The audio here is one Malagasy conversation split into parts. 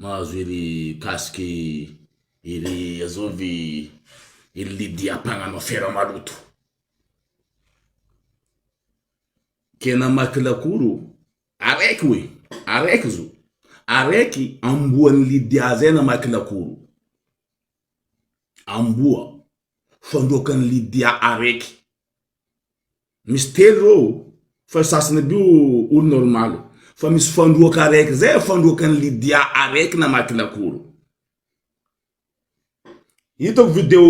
Mahazo ery casque ery azao ve ery Lydia mpagnano afera maloto. Ke namaky lakoro o! Araiky oe! Araiky zo! Araiky amboan'i Lydia zay namaky lakoro. Amboa fandroakan'i Lydia araiky. Misy telo reo fa io sasany aby io olo normal fa misy fandroaka araiky zay fandroaka an'i Lydia araiky namaky lakoro hitako video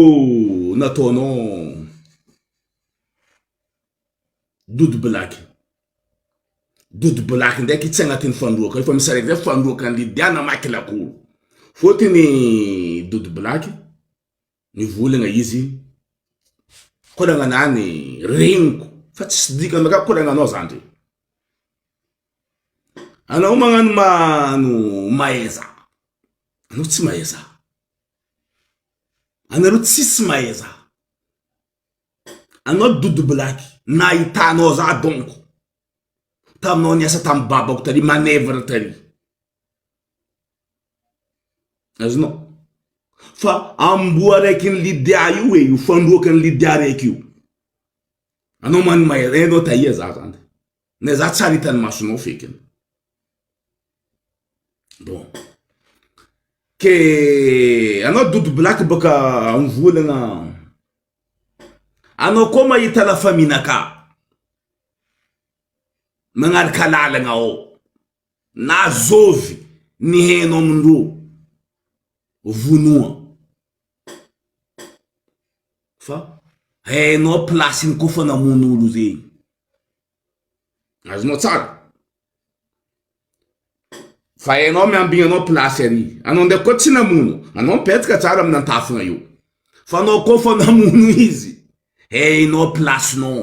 nataonao Dodo Black Dodo Black ndraiky tsy agnatin'ny fandroaka io fa misy araiky zay fandroaka an'i Lydia namaky lakoro fôtony Dodo Black Nivolagna izy, Kolagna anah ny reniko fa tsisy dikany aminakahy kolagna anao zany re. Anao magnano ma no mahaiza, anao tsy mahaiza. Anareo tsisy mahaiza. Anao dodo blaky, nahitanao zah donko taminao niasa tamin'ny babako tary, manœuvre tary. Azonao? Fa amboa araiky ny Lydia io e, io fandroaka ny Lydia araiky io. Anao mani maire, enao tahia za zany. Ne za tsara hitan'ny masonao fekiny. Bon. Ke anao Dodo Black baka amin'ny volana. Anao koa mahita la famille naka. Magnaraka lalagna ao. Na zovy ny heno amin-dro vonoa fa hainao place-ny koa fa namono olo zegny. Azonao tsara? Fa hainao miambigny anao place ary. Anao ndraiky koa tsy namono. Anao mipetraka tsara amina antafona eo. Fa anao koa fa namono izy, hainao place-nao.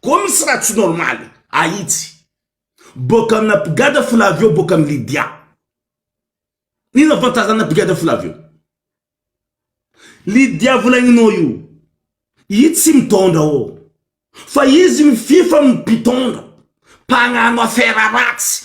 Koa misy raha tsy normaly ahitsy. Boaka amina Brigade Flavio boaka am Lydia. Inona avantagen'na Brigade Flavio? Lydia volagninao io, i tsy mitondra ô. Fa izy mifify am mpitondra, mpagnano affaire ratsy.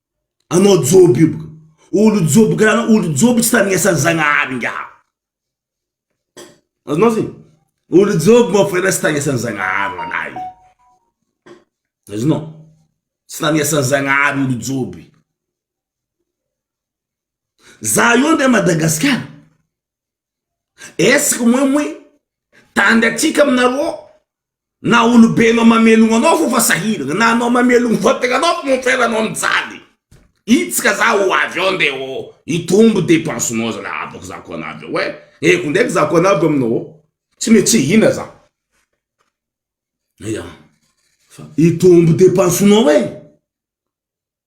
Anao joby io boka. Olo joby karaha anao, olo joby tsy tandrinesan'ny Zagnahary ingahy. Azonao zay? Olo joby moa foana tsy tandrinesan'ny Zagnahary ho anay. Azonao? Tsy tandrinesan'ny Zagnahary olo joby. Za io ndeha Madagasikara. Est-ce que moin moin tandry atsika aminareo ao na olobe anao mamelogno anao fô fa sahiragna na anao mamelogno vatagna anao fô mon frère anao mijaly hitsika za ho avy ao nde ô hitombo dépense nao zala abako za ko anavy ao ein eh ko ndraiky za ko anavy aminao ao tsy me tsy hihina za ya fa hitombo dépense nao ein.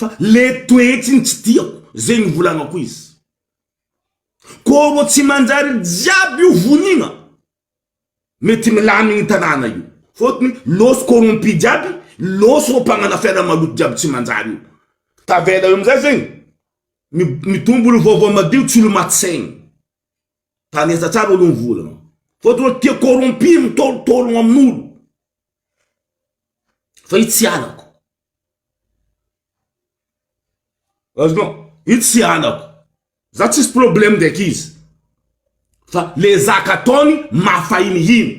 Fa le toetsiny tsy tiako ze nivolanako izy ko ro tsy manjary jiaby io vonina mety milamigny ny tanàna io fôtony lôso corrompu jiaby lôso reo mpagnana fiainana maloto jiaby tsy manjary io tavela eo amizay zegny mitombo olo vaovao madio tsy olo maty saigny tandresa tsara olo mivolagna fôtony olo tia corrompu mitôrotôrogno aminolo. Fa io tsy halako. Azonao? Io tsy halako. Za tsisy problème ndraiky izy. Fa le zaka ataony mafahinihiny.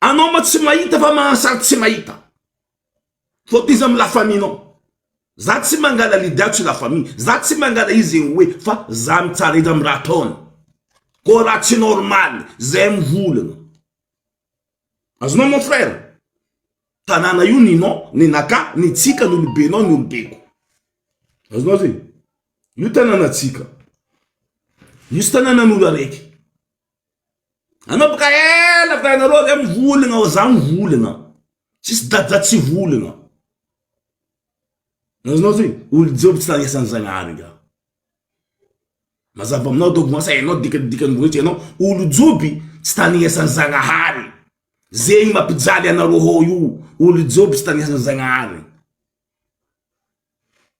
Anao ma tsy mahita fa mahasaritsy mahita. Faut izy am la famille nao. Za tsy mangala leader atsy la famille. Za tsy mangala izy zegny hoe fa za mitsara izy am raha ataony. Koa raha tsy normal zay mivolagna. Azonao mon frère. Tanàna io ninao, ninaka, nitsika, nolobenao, nolobeko. Azonao zegny. Io tanàna tsika. Io tsy tanàna nolo araiky. Nanomboka ela fa ianareo avy eo mivoly ianao, za mivoly ianao. Tsisy dada tsy voly ianao. Azonao ty, olo joby tsy nanesan'i Zagnahary nga. Mazava aminao donko asa hainao dikadikan'ny boninahitsy, ianao olo joby tsy tanesan'i Zagnahary. Zegny mampijaly anareo hao io, olo joby tsy tanesan'i Zagnahary.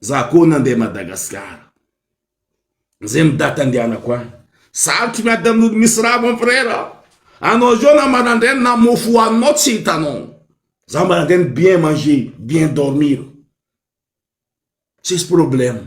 Za koa nandeha Madagascar. Zay ny date andehanako any. Sarotry miady amin'olo misy rà mon frère. Anao zao na marandraigny na mofo hoaninao tsy hitanao. Za marandraigny bien manger, bien dormir. Tsisy problème.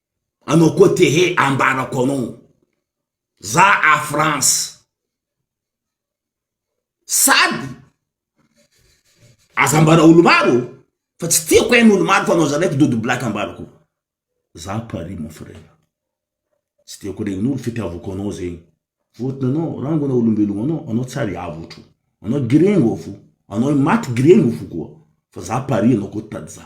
Anao koa te he ambarako anao za a France sady aza ambara olo maro fa tsy tiako hain olo maro fa anao zanaiky dodo black ambarako za a Paris mon frère tsy tiako regn olo fitiavako anao zegny votona anao rangona olombelogno anao anao tsy ary avotro anao giregno fo anao maty giregno fo koa fa za a Paris anao koa tady za.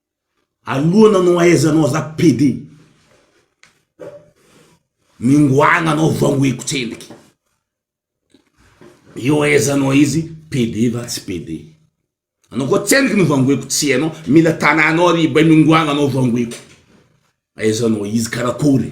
Aloha nanao aiza anao za pede mingoagna anao vangoiko tsendriky eo aiza anao izy pede va tsy pede anao koa tsendriky no vangoiko tsy hainao mila tananao ary bay mingoagna anao vangoiko aiza anao izy karakory.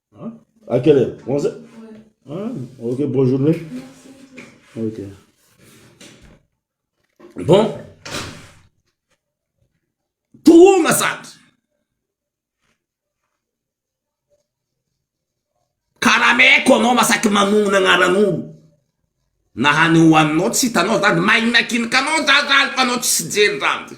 Hein? À quelle heure 11 heures ah, Ok, bonne journée. Ok. Bon. Trop massage. Karameko anao masaky manognona agnaran'olo. Na hany hohaninao tsy hitanao zany, maignakinika anao zany zany fa anao tsy jery zany.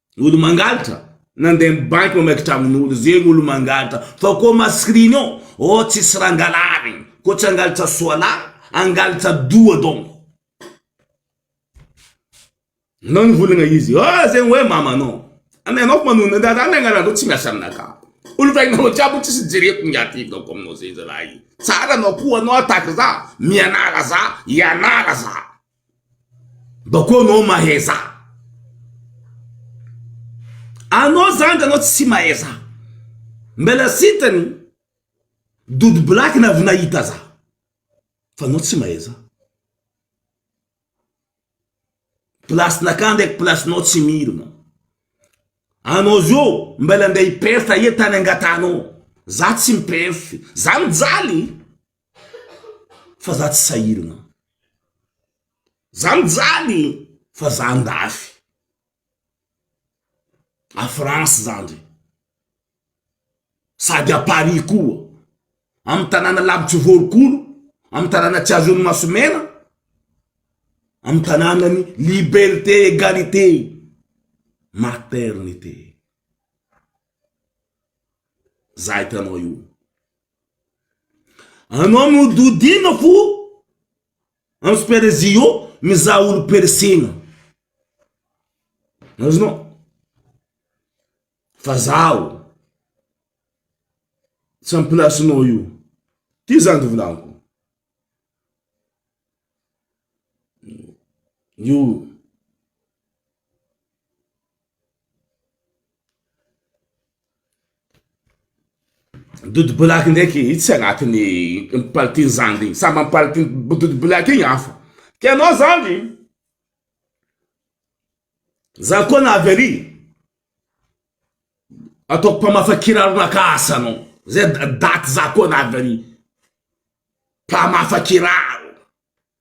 Olo mangalatra nandeha am banky mamaky tragnonolo zegny olo mangalatra fa koa mascriny ô ô tsisy raha angalarigny koa tsy angalatra soala angalatra doha donko anao nivolagna izy ô zegny hoe mamanao anao anao manona ny raha ny agnaranareo tsy miasa aminaka olo vainao jiaby tsisy jereko ny aty donko aminao zegny zalahy tsara anao koa anao ataka za mianara za ianara za. Bakeo anao mahaiza. Anao zany de anao tsy mahaiza. Mbela sitany Dodo black na avy nahita za. Fa anao tsy mahaiza. Placenakà ndraiky placenao tsy mirona. Anao zao mbela ndeha hi-perf aia tany angatahanao. Za tsy mi-perf. Za mijaly. fa za tsy sahirana za mijaly fa za andafy a France za ndry sady a Paris koa amy tanàna lavitry vorokolo amy tanàna tsy azon'ny masomena amy tanànan'ny liberté egalité maternité za hitanao io. Anao mihodidina fo am super zio mizaha olo percena azonao fa zaho tsy am place nao io ty zany ty volako io. Dodo black ndraiky io tsy anatin'ny palitiny zandry iny, samy amin'ny palitiny dodo black iny hafa, ka ianao zandry za koa na avy ary ataoko mpamafa kiraronakà asa anao, zay daty za koa na avy ary mpamafa kiraro.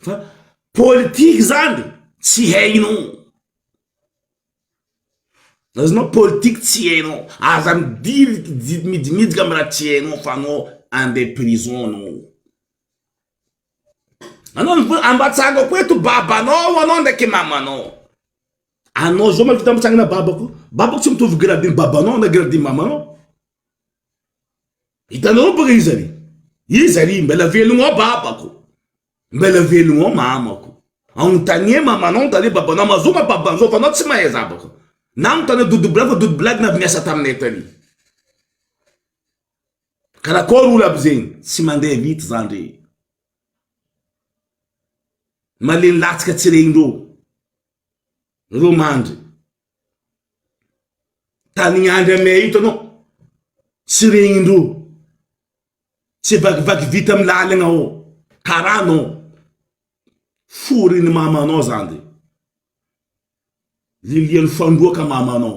fa politique zany tsy hainao azonao politique tsy hainao aza midilika midimidika am raha tsy hainao fa anao andeha prison anao anao mivola ambatsahako eto babanao anao ndraiky mamanao anao zao mahavita mitsangana babako babako tsy mitovy grade ny babanao na grade ny mamanao Hitanao baka izy ary izy ary mbela velogno ao babako mbela velogno ao mamako anontania mamanao anontania babanao mazoa ma babanzao fa anao tsy mahay zabaka nanontania dodo blagy fa dodo blagy na avy niasa taminay tary karakory olo aby zegny tsy mandeha vita zany ndre malemy latsaka tsy regny reo reo mandry Tanin Andry amea io hitanao tsy regnindreo tsy vakivaky vita am lalagna ô kara anao forin mamanao zany de lilian fandroaka mamanao.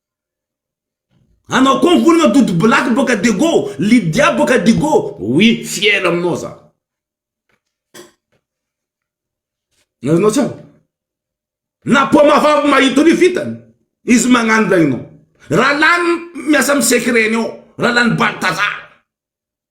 Anao koa ankolana Doudou Black boaka Diego, Lydia boaka Digo, oui fier aminao za. Azonao tsara? Na paoma vavy mahita an'io vitany, izy magnano regninao. Raha lany miasa amin'ny secret-ny ao, raha lany Baltazar.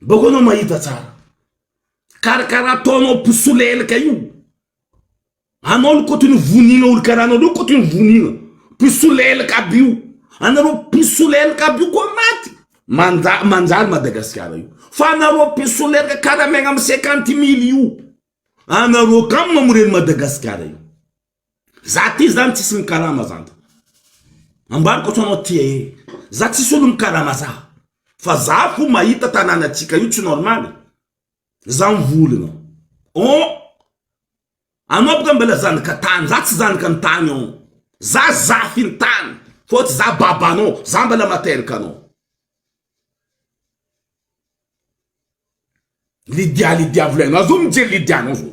Mboko anao mahita tsara karakara ataonao mpisolelaka io anao aloha koto ny vonina olo karaha anao reo koto ny vonina mpisolelaka aby io anareo mpisolelaka aby io koa maty manda- manjary madagasikara io fa anareo mpisolelaka karaha miaigna amy cinquante mily io anareo kamo mamoreny madagasikara io. Za ty zany tsisy mikarama zany de ambariko atao anao ty ee, za tsisy olo mikarama za fa za fo mahita tananatsika io tsy normal e, za mivolona on anao boka mbala zanaka tany za tsy zanaka ny tany on za zafy ny tany fô tsy za babanao za mbala materaka anao. Lydia lydia volainao zao mijery lydia nao zao.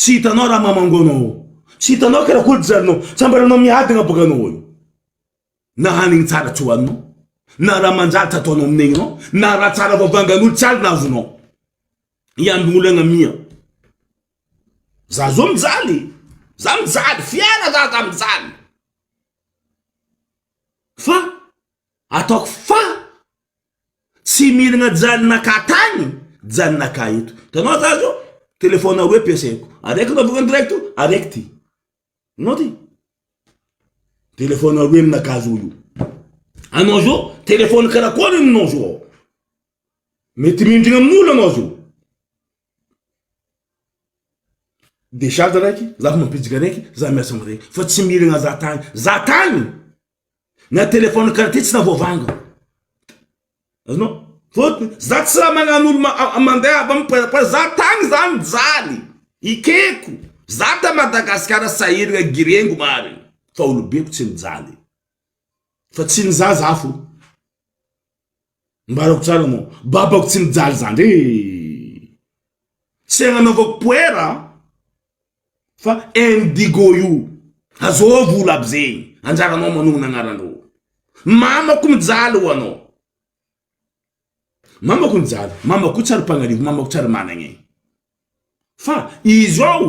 Tsy hitanao raha mamango anao ao. Tsy hitanao karakol tsy zarinao. Tsambaranao miadagna boka anao eo. Na hanigny tsara tsy hoaninao. Na raha manjary tsy ataonao amin'ny aignao. Na raha tsara vavangan'olo tsy alina avonao. Hiambin'olo agny amia. Za zao mijaly. Za mijaly. Fiara za za mijaly. Fa ataoko fa Tsy mihinagna janaka tany, janaka eto. Hitanao za zao, telephone roe ampiasaiko. Araiky raha voalohany direct, araiky ty. Hitanao ty? Telephone roe aminakahy zao io. Anao zao, telephone karakôry io ninao zao ao? Mety mihindrana amin'olo anao zao. Decharge araiky, za fa mampidriky araiky, za miasa am raiky. Fa tsy mihinagna za tany, za tany! Na téléphone qualité tsy tavoavanga. Azonao? Fôtony za tsy raha magnano olo mandeha avy am poera poera za tagny za mijaly ekeko za ta Madagascar sahiragna girengo marigny fa olobeko tsy mijaly fa tsy ny za za fô. Ambarako tsara moa, babako tsy mijaly zandry ee. Tsy agnanaovako poera an, fa indigo io. Azôo vola aby zegny, anjaranao manogna agnarandrô. Mamako mijaly ho anao. Mamako mijaly, mamako koa tsy ary mpagnarivo, mamako tsy ary managna e. Fa izao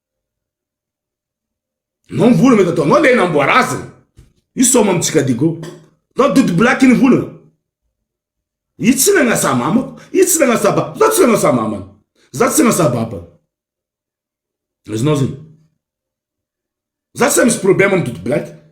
Non vola mety atao non le namboara azy e. Io soma amintsika digo. Non dody black ny vola. Io tsy nagnasa mamako. Io tsy nagnasa ba. Za tsy nagnasa mamany. Za tsy nagnasa babany. Azonao zay. Za tsy misy problème amin'ny dody black.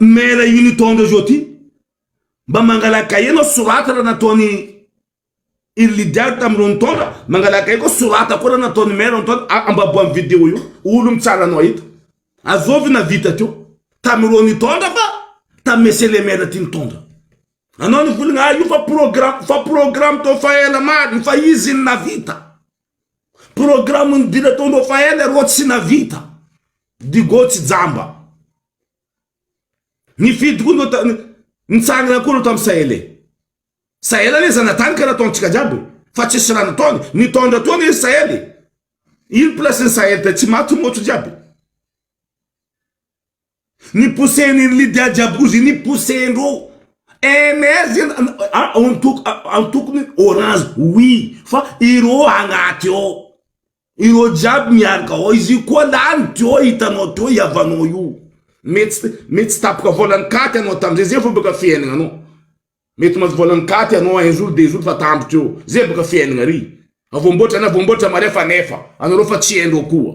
Maire io nitondra zao ty mba mangala cahier anao sorata raha nataony iry leader tamin'ireo nitondra mangala cahier koa sorata koa raha nataony maire nitondra ambaboa amin'ny video io olo mitsara anao eto azovy navita teo tamin'ireo nitondra fa tamin'ny monsieur le maire ty nitondra anao nivolagna ah io fa programme fa programme tao fa ela maro io fa izy no navita Programme ny dila tao Rafael arô tsy navita. Digo tsy jamba. Nifidy koa ndreo tany nitsangana koa ndreo tamin'ny Sahele. Sahele anie zanatany ka nataontsika jiaby fa tsisy raha nataony. Nitondra tao anie Sahele. Ino place ny Sahele tetsy maty motro jiaby. Ni pousser ny ny Lydia Jabouzy ni pousser ndro NR zany antokony orange oui fa ireo agnaty ao ireo jiaby miaraka ao izy io koa lany teo hitanao teo i havanao io mety mety tsy tapoka volan'ny katy anao tamizay zay vao baka fiainana anao mety mahazo volan'ny katy anao un jour deux jour fa tambo teo zay baka fiainana ry avoamboatra na voamboatra mare fa nefa anareo fa tsy haindreo koa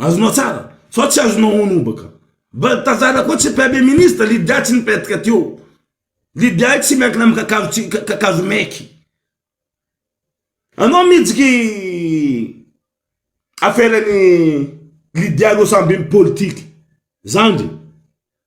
Azonao tsara fa tsy azonao honobaka. Mba tazana koa tsy premier ministre Lydia tsy nipetraka teo. Lydia tsy miankina amin'ny kakazo tsy kakazo maiky. Anao mitsiky affaire ny Lydia aloha samy be politique. Zandry.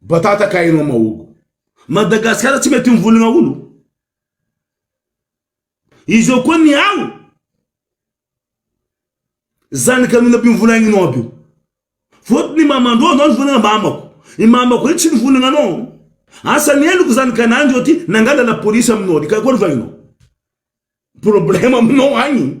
Batata ka enao mahogo. Madagascar tsy mety mivonogna olo. Izao koa ny ao zanaka anona aby mivonagninao aby io. Fotony mamandro anao ny vonagna mamako. I mamako io tsy mivonagna anao. Asa ny heloko zany ka nanjo aty nangala la police aminao aty ka koa ny vahinao. Problème aminao agny.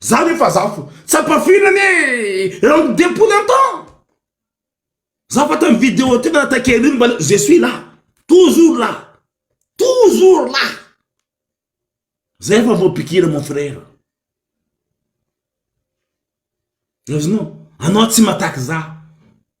Za ve fa za fo tsapa firy anie eran ny deux poules un temps za fa tam video teo na takery iny mba je suis là toujours là toujours là za efa vao pikira mon frère azonao anao tsy mataky za.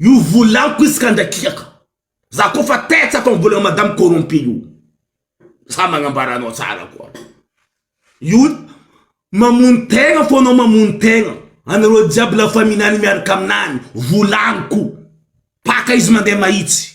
Io volanko izy ka andrakiako. Za ko fa tets atao volan'i madame corrompu io. Za magnambara anao tsara koa. Io mamono tegna fô anao mamono tegna. Anareo jiaby la famille nany miaraka aminany. Volanko. Paka izy mandeha mahitsy.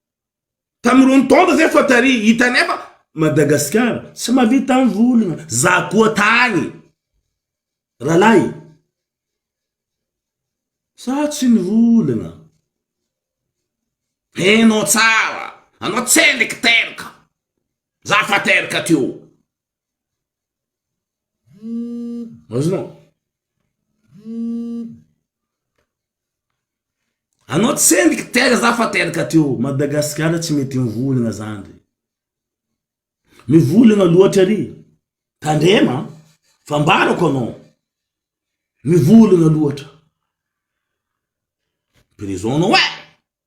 Tamin'irony taona izay fa tary, hitanay fa Madagasikara tsy mahavita amin'ny volana, za koa tany ralahy za tsy nivolana, enao tsara anao tsy niteraka, za fa teraka teo. Azonao? Anao tsy hendiky teraka za fa teraka teo, Madagasikara tsy mety mivolagna zany re, mivolagna loatra re, tandrema an, fa ambarako anao, mivolagna loatra, prison anao eh!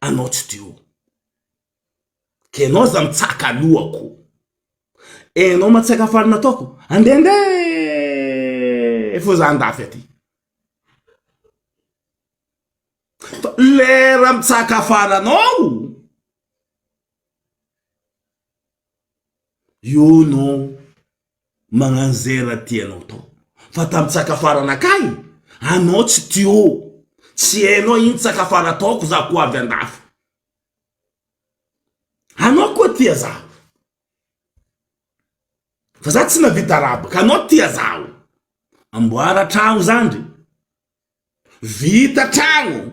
Anao tsy de oh. Ka enao aza mitsaka alohako. Enao matsaka faly nataoko. Andende fô za andafy aty. Fa lera mitsaka faly anao. Io no Magnano zay raha tianao atao. Fa tam tsaka fara nakay anao tsy teo. Tsy hainao iny tsaka fara ataoko za ko avy andafy. Anao koa tia za. Fa za tsy navita rabaka anao tia zaho. Amboara tragno zandry. Vita tragno.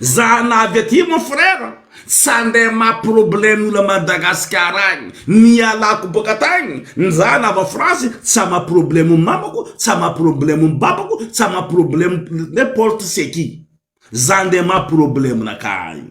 Zana avy aty mon frère tsy andeha ma problème ola Madagascar agny nialako boka tagny njana avy France tsy ama problème mamako tsy ama problème babako tsy ama problème n'importe ce qui za ndeha ma problème naka agny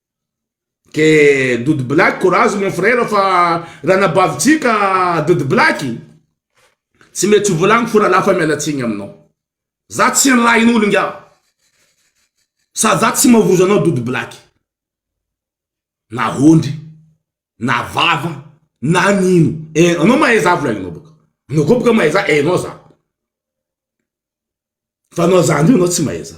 Que Doudou Black courage mon frère fa ranabavitsika Doudou Black tsy mety ho volagny fo ralahy fa miala tsigny aminao za tsy nilahin'olo ingahy sady za tsy mavozo anao Doudou Black na ondry na vava na nino eh anao mahay za volagnanao boka anao koa boka mahay za hainao za fa anao zandry io anao tsy mahay za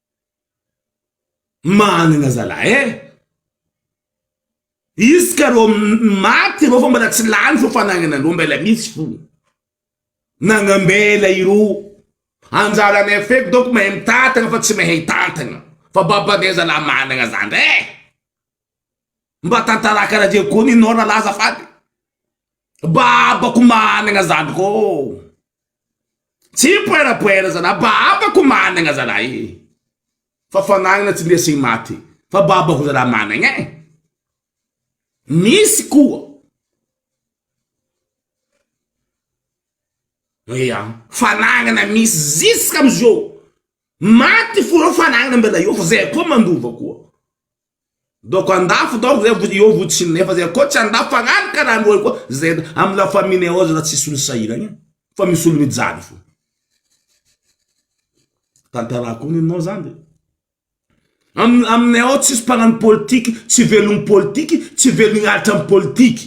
Managna zalah eh! Izy ka rô maty irô fa mbola tsy lany fô fanagnanarô mbela misy fô nagnambela irô anjaranay feky donc mahay mitantagna fa tsy mahay hitantagna fa babanay zalah managna zandry eh! Mba tantara kara zay koa nenao ralah azafady, babako managna zandry kô. Tsy poerapoera zalahy, baba ko managna zalahy e! Fa fanagna tsy ndesiny maty fa baba ko zalahy managna e! Misy koa Ia, fanagnana misy ziska amizao, maty fô reo fanagnana mbela eo fa zay koa mandova koa. Donc andafy donc zay vody eo vody sy ny nefa zay koa tsy andafy fa rano ka rano koa zay am la famille ao zay tsisy olo sahiragna fa misy olo mijaly fo tantarako ny anao zany de am aminay ao tsisy mpagnano politique tsy velogny politique tsy velogny alitra am politique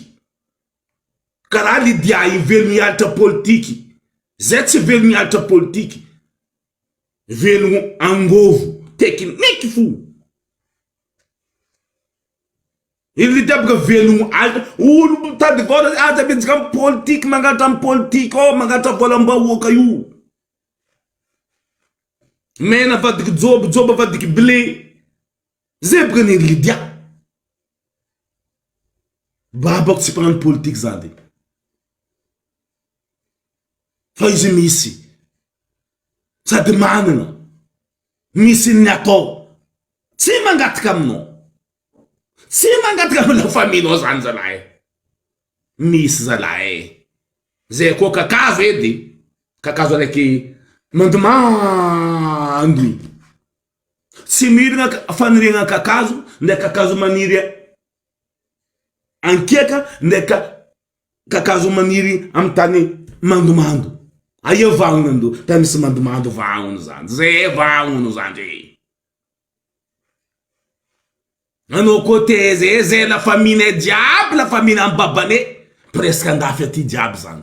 karaha Lydia io velogny alitra politique zay tsy velogny alitra politique Velogno angovo tekiniky fo. Ery tapaka velogno aza olo mitady vola aza miezaka am politique mankatra am politique ao mankatra volam bahoaka io mena avadika jobo jobo avadika blé. Zebra ny ry Lydia. Babako tsy mpanano politique zany de. Fa izy misy. Sady manana. Misy ny atao. Tsy mangataka aminao. Tsy mangataka amin'ny la famille nao zany zalahy. Misy zalahy e. Zay koa kakazo edy. Kakazo araiky mandomando. Tsy mirina faniriagna kakazo ndray kakazo maniry ankiaka ndray kakazo maniry amin'ny tany mandomando. Aia vahona ndo tany misy mandomando vahona zany ze vahona zany e. Anao koa te ze ze la famille-nay jiaby la famille an'i babaney presque andafy aty jiaby zany.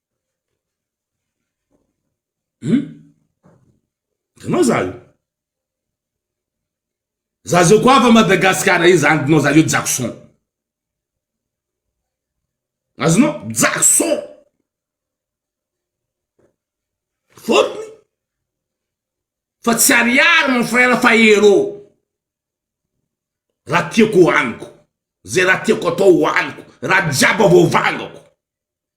Hum? Hitanao za io? Za zao koa avy Madagasikara io za ndrinao za io Jackson. Azonao? Jackson! Fotony fa tsy ariary mon frère fa héros. Raha tiako hohaniko, zay raha tiako atao hohaniko, raha jiaby voavangako.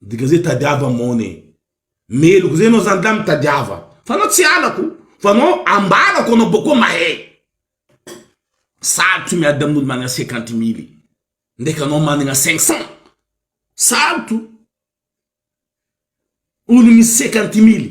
Midika ze tadiava mon e. Meloka ze anao zany lahy mitadiava. Fa anao tsy halako fa anao ambarako anao boko mahe. Sarotra miady amin'olo managna cinquante mille ndreky anao managna cinq cent. Sarotra o. Olo misy cinquante mille.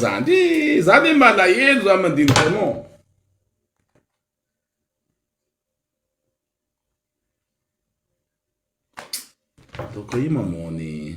Za ndry, za ve malahelo za mandinika anao? Ataoko hoe mamono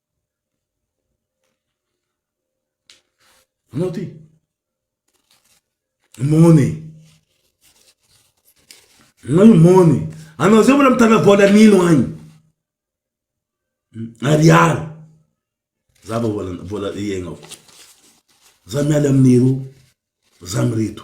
Anao ty. Mony. Anao io mony. Anao zay mbola mitana vola nino agny. Ariary. Za vao vola vola iaignako. Za miala amin'ireo za mireto.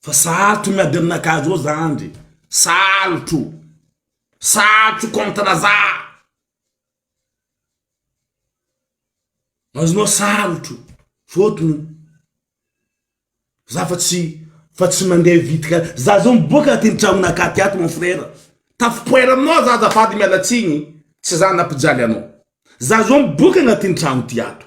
Fa sarotro miady amina gazo ao zandry e, sarotro, sarotro contre za, azonao sarotro fotony za fa tsy fa tsy mandeha vitika, za zao miboaka aty ny tranon'Ankatỳ ato mon frère, tafapoera aminao za azafady miala tsiny, tsy za nampijaly anao, za zao miboaka agnatin'ny trano ty ato.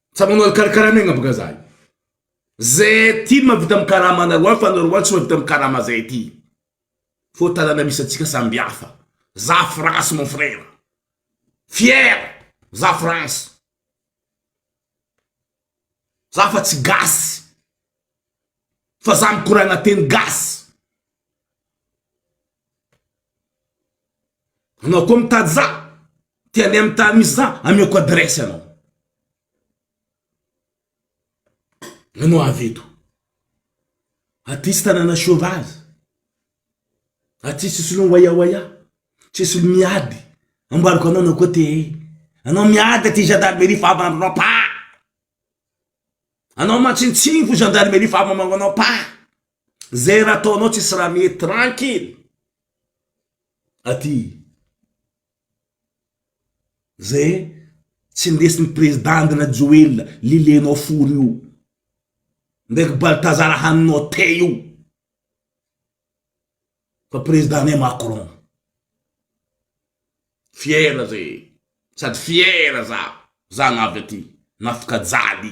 Tsa manao alikarakara ny agnabaka zahay. Zay aty mavita am karama anarwa fa anarwa tsy mavita am karama zay aty. Fô tanana misy atsika samby hafa. Za France mon frère. Fier za France. Za fa tsy gasy. Fa za mikoragna teny gasy. Anao koa mitady za te handeha amin'ny tany misy za ameko adresse anao anao avy eto aty tanàna sauvage aty tsisy olo miwayawaya tsisy olo miady ambarako anao anao koa te hey anao miady aty gendarmerie fa avandronao paa anao mantsintsiny fo gendarmerie fa avambangonao paa. Zay raha ataonao tsisy raha mety tranquille aty zay tsy ndesin'ny président Andry Rajoelina lilenao fory io ndraiky Baltazar haninao thé io fa président anay Macron fier zay sady fier za zagna avy aty nafika jaly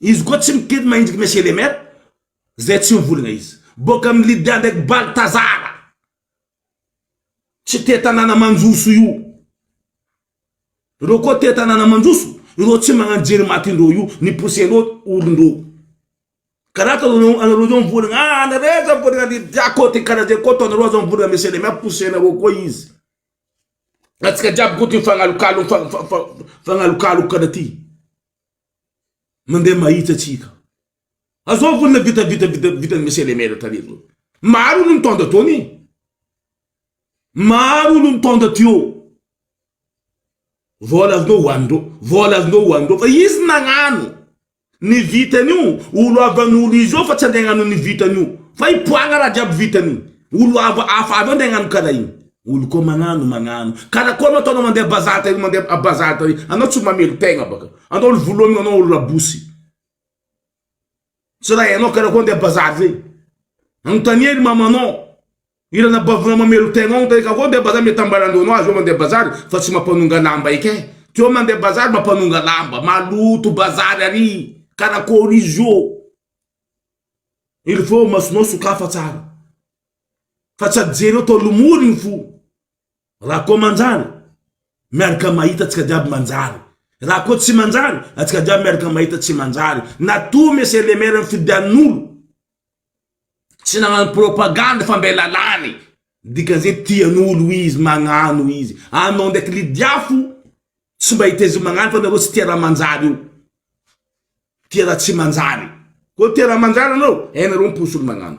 Izy koa tsy mikely mahinjika monsieur le maire zay tsy mivolagna izy boka am lydia ndraiky baltazara tsy te tanàna manjoso io reo koa te tanàna manjoso ireo tsy magnano jery maty ndreo io ny pousse ndreo ory ndreo karaha ataonao anao anareo zao mivolagna ah anareo aza mivolagna lydia koa ty karaha zay koa ataonareo aza mivolagna monsieur le maire pousse anareo koa izy atsika jiaby koa ty mifagnalokalo mifa- mifa- mifa- mifagnalokaloka karaha ty. Mandeha mahitsy atsika. Azao vonona vita vita vita vita ny monsieur le maire tary zao. Maro olo nitondra teo anie. Maro olo nitondra teo. Vola azonao ho anindreo. Vola azonao ho anindreo. Fa izy nagnano. Ny vitany io olo avy any olo izy eo fa tsy andeha agnano ny vitany io. Fa hipoagna raha jiaby vitany io. Olo hafa avy eo andeha agnano karaha igny. Olo ko magnano magnano karakory ma ataonao mandeha bazary tary mandeha a bazary tary anao tsy mamely tegna baka anao olo volomigna anao olo rabosy tsy raha hainao karakory andeha bazary zay anontania ry mamanao i ranabavinao mamelo tegnao anontania karakory andeha bazary mety ambaran-dreo anao aza eo mandeha bazary fa tsy mampanonga lamba eky eh teo mandeha bazary mampanonga lamba maloto bazary ary karakory izy io il faut masonao sokafa tsara. fa tsy ajereo tao lomory ny fo raha koa manjary miaraka mahita tsika jiaby manjary raha koa tsy manjary atsika jiaby miaraka mahita tsy manjary na toa monsieur le maire ny fidian'olo tsy nagnano propagande fa mbe lalàny dikan'izay tian'olo izy magnano izy anao ndraiky lidiafo tsy mba hiteza magnano fa nareo tsy tia raha manjary io tia raha tsy manjary koa tia raha manjary anao hainareo ny posy olo magnano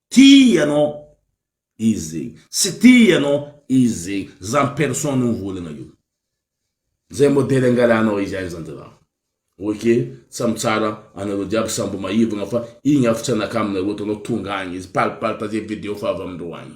Tia ianao izy, tsy tia ianao izy, zany personne mivolagna io. Zay modely angalanao izy any zany zalah. Ok, samy tsara anareo jiaby samy mbo maivagna fa igny avy tsy anakaminareo ataonao tonga agny izy, palipalita ze video fa avy amindreo agny.